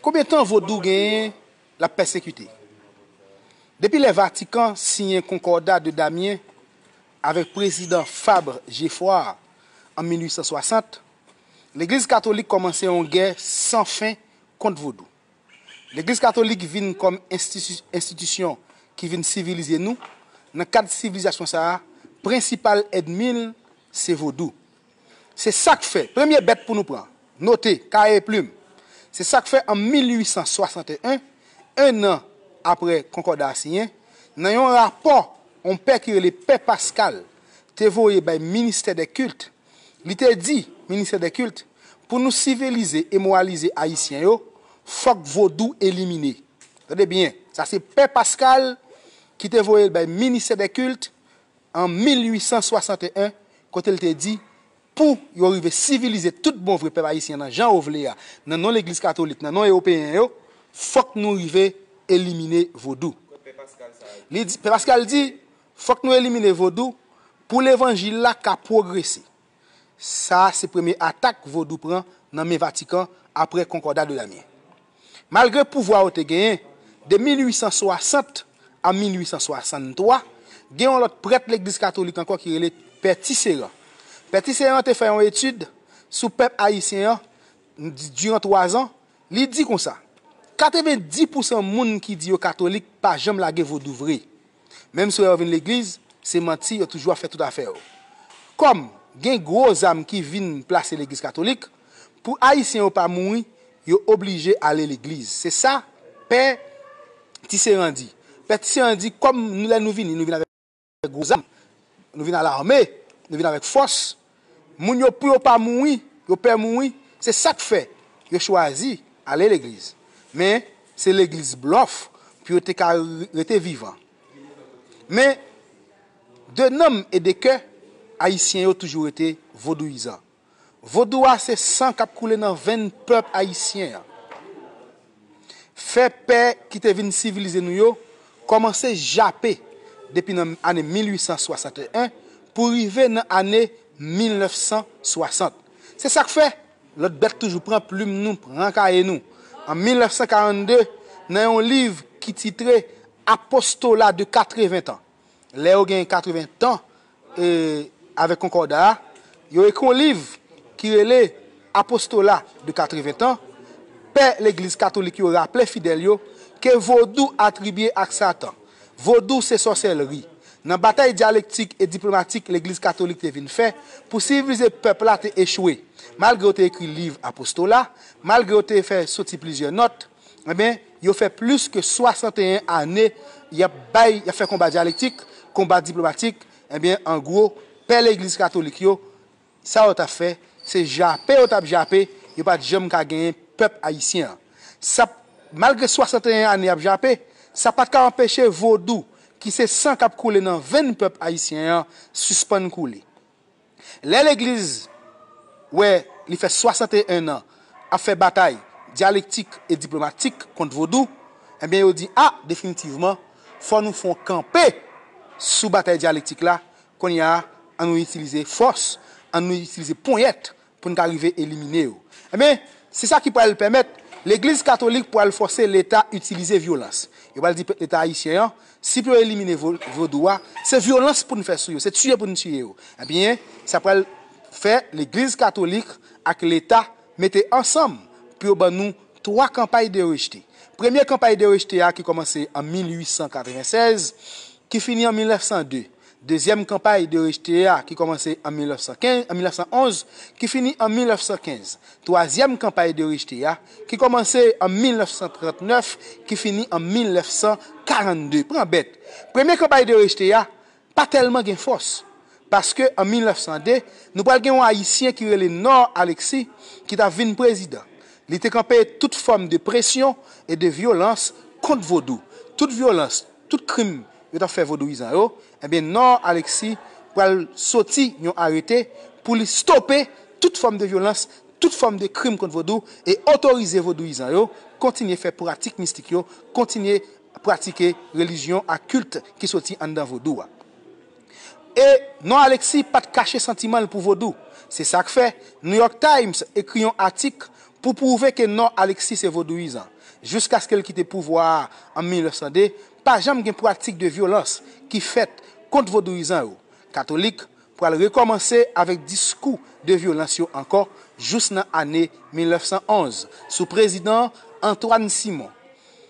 Konbyen tan vodou genyen l ap pèsekite? Depi lè Vatikan siyen Concordat de Damien avèk prezidan Fabre Geffrard an 1860, legliz katolik kòmanse yon gè san fen kont vodou. Legliz katolik vin kòm enstitisyon ki vin sivilize nou, nan kad sivilizasyon sa a, prensipal èdmi l se vodou. Se sa k fè, premye bèt pou nou pran, note, kaye e plim, se sa k fè an 1861, ennan apre Konkòda a siyen, nan yon rapò yon pè ki rele pè Paskal te voye bay Ministè dè Kilt, li te di, Ministè dè Kilt, pou nou sivilize e moralize Ayisyen yo, fòk vodou elimine. Tande byen, sa se pè Paskal ki te voye l bay Ministè dè Kilt, an 1861 kote l te di, Pou yo rive sivilize tout bon vre pèp ayisyen nan jan yo vle a, nan non legliz katolik, nan non ewopeyen yo, fòk nou rive elimine vodou. Li di, Pè Paskal di, fòk nou elimine vodou pou levanjil la ka pwogrese. Sa a se premye atak Vodou pran nan men Vatikan apre Concordat de l'Amiens. Malgre pouvwa yo te genyen, de 1860 a 1863, gen yon lòt prèt Legliz Katolik ankò ki rele Pè Tisserand. Pè Tisserand te fè yon etid sou pèp ayisyen an diran twazan, li di konsa, 90 pousan moun ki di yo katolik pa janm lage Vodou vre. Menm sou lè yo vin legliz, se manti yo toujou ap fè tout afè yo. Kòm gen gwo zam ki vin plase legliz katolik, pou ayisyen yo pa mouri, yo oblije ale legliz. Se sa pè Tisserand di. Pè Tisserand di kòm lè nou vini, nou vin avèk gwo zam, nou vin a lame, nou vin avèk fòs, Moun yo pou yo pa mouri, yo pè mouri, se sak fè yo chwazi ale legliz. Men se legliz blòf pou yo te ka rete vivan. Men de nanm e de kè, ayisyen yo toujou rete vodouyizan. Vodou a se san kap koule nan venn pèp ayisyen an. Fè pè ki te vin sivilize nou yo kòmanse jape depi nan ane 1861 pou rive nan ane 1960. Se sa k fè lòt bèt toujou pran plim nou, pran kaye nou. An 1942, nan yon liv ki titre Apostolat de 80 ans, lè yo gen 80 tan avèk Konkòda a, yo ekri yon liv ki rele Apostola de 80 tan, Pè Legliz Katolik yo raple fidèl yo ke Vodou atribye ak Satan. Vodou se sòsèlri. Nan batay dyalektik e diplomatik Legliz Katolik te vin fè pou sivilize pèp la te echwe. Malgre yo te ekri liv Apostola, malgre yo te fè soti plizyè nòt, Enben, yo fè plis ke 61 ane y ap bay, y ap fè konba dyalektik, konba diplomatik, enben, an gwo, pè legliz katolik yo, sa yo t ap fè, se jape yo t ap jape, yo pa t janm ka genyen pèp ayisyen an. Sa, malgre 61 ane y ap jape, sa pa t ka anpeche vodou, ki se san k ap koule nan venn pèp ayisyen an, sispann koule. Lè legliz wè li fè 61 an ap fè batay dyalektik e diplomatik kont vodou, enben yo di a definitivman fò nou fon kanpe sou batay dyalektik la, kounye a an nou itilize fòs, an nou itilize ponyèt pou n ka rive elimine yo. Enben, se sa ki pral pèmèt Legliz Katolik pral fòse Leta itilize vyolans. Yo pral di pèp Leta Ayisyen an, si pou yo elimine Vodou a, se vyolans pou n fè sou yo, se tiye pou n tiye yo. Enben, sa pral fè Legliz Katolik ak Leta mete ansanm pou yo ban nou twa kanpay de rejte. Premye kanpay de rejte a ki kòmanse an 1896, ki fini an 1902. Dezyèm kanpay de rejte a ki kòmanse an 1911, ki fini an 1915. Twazyèm kanpay de rejte a ki kòmanse an 1939, ki fini an 1942. Pran bèt! Premye kanpay de rejte a pa tèlman gen fòs, paske an 1902, nou pral gen yon Ayisyen ki rele Nord Alexis ki t ap vin prezidan. Li te kanpe tout fòm de presyon e de vyolans kont vodou. Tout vyolans. tout krim yo tap fè vodouyizan yo ebyen nò Alexis pral soti yon arete pou li stope tout fòm de vyolans tout fòm de krim kont vodou e otorize vodouyizan yo kontinye fè pratik mistik yo kontinye pratike relijyon ak kilt ki soti anndan vodou a. E non Alexis pat kache santiman l pou vodou. Se sa k fè, New York Times ekri yon atik pou pwouve ke non Alexis se vodouyizan. Jouskaske l kite pouvwa a an 1902, pa janm gen pratik de vyolans ki fèt kont vodouyizan yo. Katolik pral rekòmanse avèk diskou de vyolans yo ankò jous nan ane 1911, sou prezidan Antoine Simon.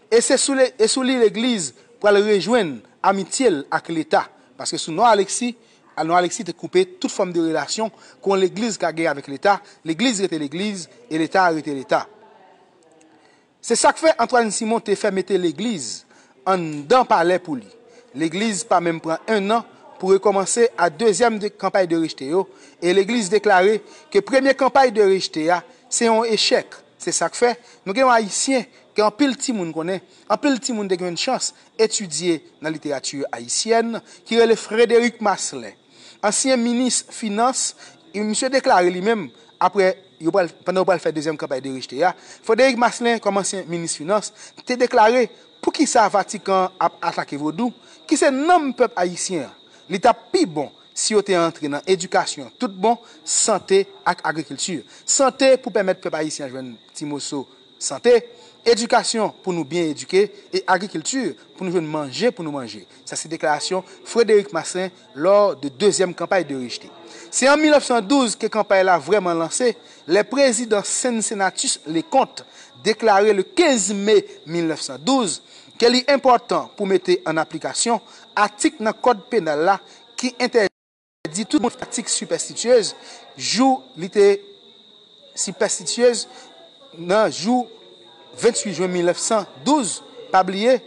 E se sou li e sou li legliz pral rejwenn amitye l ak leta, paske sou non Aleksi, a non Aleksi te koupe tout fòm de relasyon ke yon legliz ka gen avèk leta, legliz rete legliz e leta a rete leta. Se sak fè Antwàn Simon te fè mete legliz anndan palè pou li. Legliz pa menm pran 1 nan pou rekòmanse a dezyèm de kanpay de rejte yo e legliz deklare ke premye kanpay de rejte a se yon echèk, Se sak fè, nou gen yon Ayisyen ke anpil timoun konnen, anpil timoun te gen yon chans etidye nan literati ayisyèn, ki rele Frederic Marcelin. Ansyen minis finans, misye deklare li menm, apre yo pral, pandan yo pral fè dezyèm kanpay de rejte a, Frederic Marcelin kòm ansyen minis finans, te deklare poukisa Vatikan an ap atake vodou, ki se nanm pèp ayisyen an, li tap pi bon, si yo te antre nan edikasyon tout bon, sante ak agrikilti. Sante pou pèmèt pèp ayisyen jwenn ti moso sante, edikasyon pou nou byen edike e agrikilti pou nou jwenn manje pou nou manje. Sa se deklarasyon Frédéric Masselin lor de dezyèm kanpay de Richeté. Se an 1912 ke kanpay la vrèman lanse lè prezidan Cincinnatus Leconte deklare le 15 me 1912 ke li enpòtan pou mete an aplikasyon atik nan kòd penal la ki entèdi tout moun pratik sipèstityez jou li te sipèstityez nan jou 28 jwen 1912, pa bliye,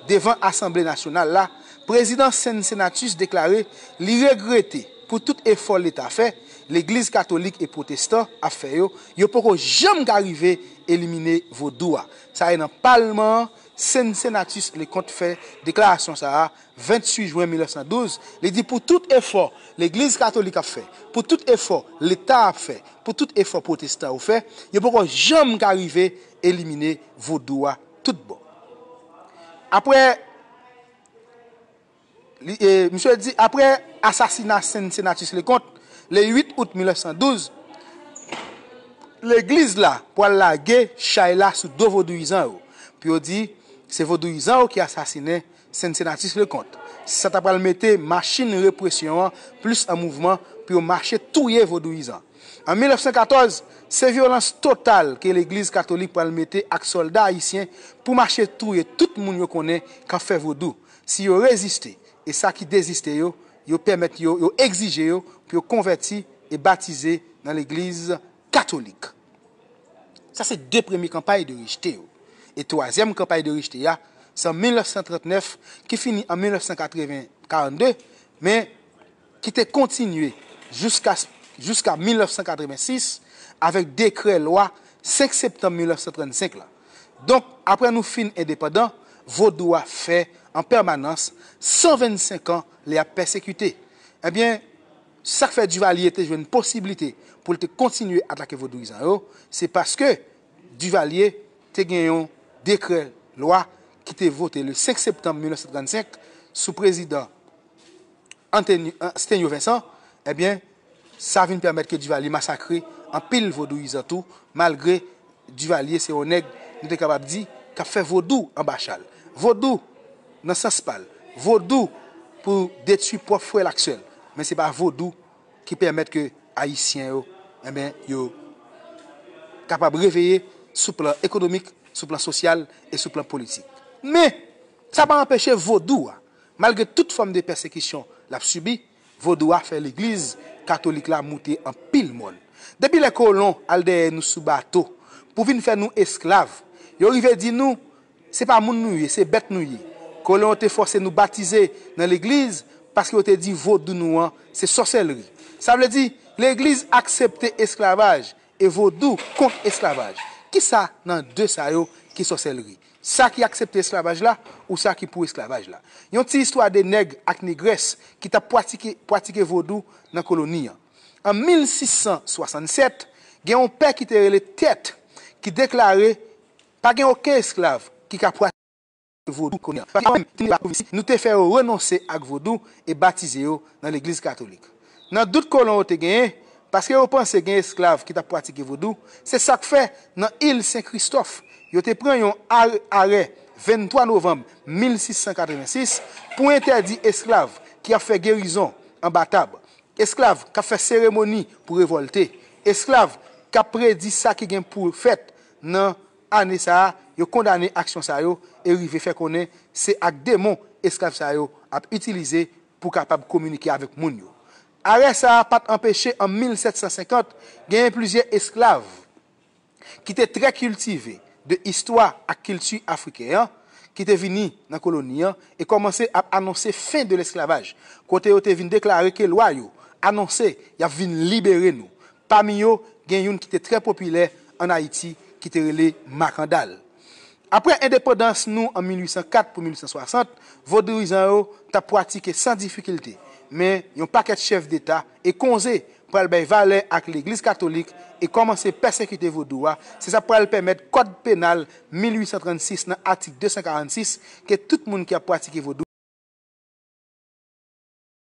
devan Asanble Nasyonal la, Prezidan Cincinnatus deklare li regrete pou tout efò Leta fè, Legliz Katolik e Pwotestan ap fè yo, yo poko janm ka rive elimine Vodou a. Sa e nan palman an Cincinnatus Leconte fè deklarasyon sa a, 28 jwen 1912, li di pou tout efò Legliz Katolik ap fè, pou tout efò Leta a ap fè, pou tout efò Pwotestan yo fè, yo poko janm ka rive elimine Vodou a tout bon. Apre, li, misye di, apre asasina Cincinnatus Leconte, le 8 out 1912, Legliz la pwal lage chay la sou do Vodouyizan yo, pou yo di, se Vodouyizan yo ki asasinen Cincinnatus Leconte, sa ta pral mete machin represyon an plis an mouvman pou yo mache touye vodouyizan. An 1914, se vyolans total ke legliz katolik pral mete ak sòlda ayisyen pou mache touye tout moun yo konnen k ap fè vodou, si yo reziste, e sa ki deziste yo, yo pèmèt yo, yo egzije yo pou yo konvèti e batize nan legliz Katolik. Sa se de premye kanpay de rejte yo. E twazyèm kanpay de rejte a, se an 1939 ki fini an 1982, men ki te kontinye jouska jouska 1986 avèk dekrè lwa 5 septanm 1935 la. Donk, apre nou fin endepandan, vodou a fè an pèmanans 125 an li ap pèsekite. Ebyen. Sa k fè Duvalier te jwenn posiblite pou l te kontinye atake vodouyizan yo, se paske Duvalier te gen yon dekrè lwa ki te vote le 5 septanm 1935 sou prezidan Sténio Vincent, ebyen sa vin pèmèt ke Duvalier masakre anpil vodouyizan tou malgre Duvalier se yon nèg nou te kapab di k ap fè vodou anba chal. Vodou nan sans pa l. Vodou pou detui pwòp frè l ak sè l. Men se pa vodou ki pèmèt ke Ayisyen yo enben yo kapab reveye sou plan ekonomik, sou plan sosyal e sou plan politik. Men, sa pa anpeche vodou a, malgre tout fòm de pèsekisyon l ap sibi, Vodou a fè legliz katolik la moute anpil mòn. Depi lè kolon al dèyè nou sou bato pou vin fè nou esklav, yo rive di nou se pa moun nou ye, se bèt nou ye. Kolon yo te fòse nou batize nan legliz paske yo te di vodou nou an se sòsèlri. Sa vle di legliz aksepte esklavaj e vodou kont esklavaj. Kisa nan 2 sa yo ki sòsèlri? Sa ki aksepte esklavaj la ou sa ki pou esklavaj la. Yon ti istwa de nèg ak negrès ki t ap pwatike pwatike vodou nan koloni an. An 1667, gen yon pè ki te rele Tèt ki deklare pa gen oken esklav ki ka pwatike vodou nan koloni an. Paske yo menm, ki te nan pwovensi, nou te fè yo renonse ak vodou e batize yo nan legliz katolik. Nan dout kolon yo te genyen, paske yo panse gen esklav ki t ap pratike vodou, se sa k fè nan il Sen Kristòf, yo te pran yon ar arè 23 novanm 1686 pou entèdi esklav ki ap fè gerizon anba tab, esklav k ap fè seremoni pou revòlte, esklav k ap predi sa ki gen pou fèt nan ane sa a, yo kondane aksyon sa yo e rive fè konnen se ak demon esklav sa yo ap itilize pou kapab kominike avèk moun yo. Arè sa a pa t anpeche an 1750 genyen plizyè esklav ki te trè kiltive de istwa ak kilti afriken an ki te vini nan koloni an e kòmanse ap anonse fen de lesklavaj kote yo te vin deklare ke lwa yo anonse y ap vin libere nou Pami yo, gen youn ki te trè popilè ann Ayiti ki te rele Makandal. Apre endepandans nou an 1804 pou 1860, vodouizan yo t ap pwatike san difikilte, men yon pakèt chèf deta e konze pral bay valè ak legliz katolik e kòmanse pèsekite vodou a, se sa pral pèmèt kòd penal 1836 nan atik 246 ke tout moun ki ap pwatike vodou.